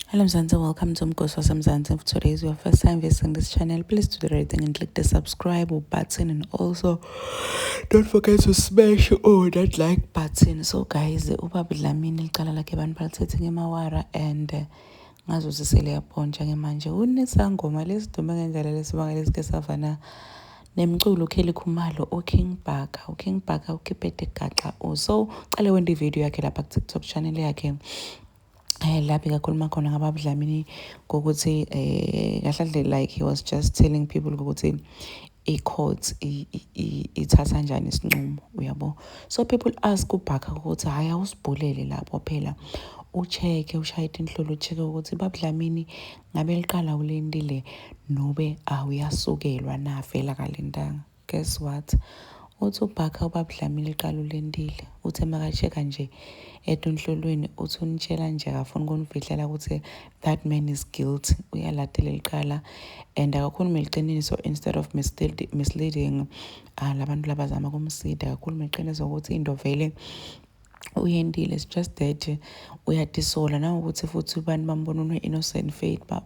Hello Mzansi, welcome to Mgosi waseMzansi. If today is your first time visiting this channel, please do the right thing and click the subscribe button and also don't forget to smash oh that like button. So guys, ubaba Dlamini liqala lakhe abantu balithethe ngemawara and uh, ngazo siseliyapontsha ke manje unesangoma lesidume ngendlela lesibanga lesike savana nemculo uKelly Khumalo uKing Bhaka uKing Bhaka uKipete Gaxa also uqale wende video yakhe lapha ku-TikTok channel yakhe eh la bekakhuluma khona ngababudlamini kokuthi eh kahle kahle like he was just telling people ukuthi i-court ithatha njani isinqumo uyabo so people ask ubhaka ukuthi hhayi awusibhulele lapho phela ucheck-e ushaye inhlolo ucheck-e ukuthi babudlamini ngabe liqala ulentile nobe awuyasukelwa navela kalentanga Guess what? Uthi ubhakha ubab Dlamini liqala ulentile. Uthe maka checka nje at unhlolweni uthi unitshela nje akafuni kunifihlela ukuthi that man is guilty. Uyalatela liqala and akakhulume liqiniso instead of misleading uh, labantu labazama kumsida akakhulume liqiniso ukuthi into vele uyentile it's just that uyadisola nawukuthi futhi abantu bambona une-innocent faith baba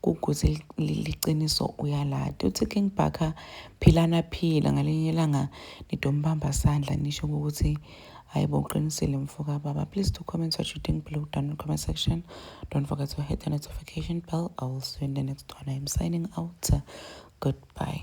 kuguze liqiniso uyalati uthi King Bhaka philana phila ngalinye ilanga nidombamba sandla nisho ukuthi hayi bo uqinisile mfoka baba please do comment what you think below down in the comment section don't forget to hit the notification bell i will see you in the next one i am signing out goodbye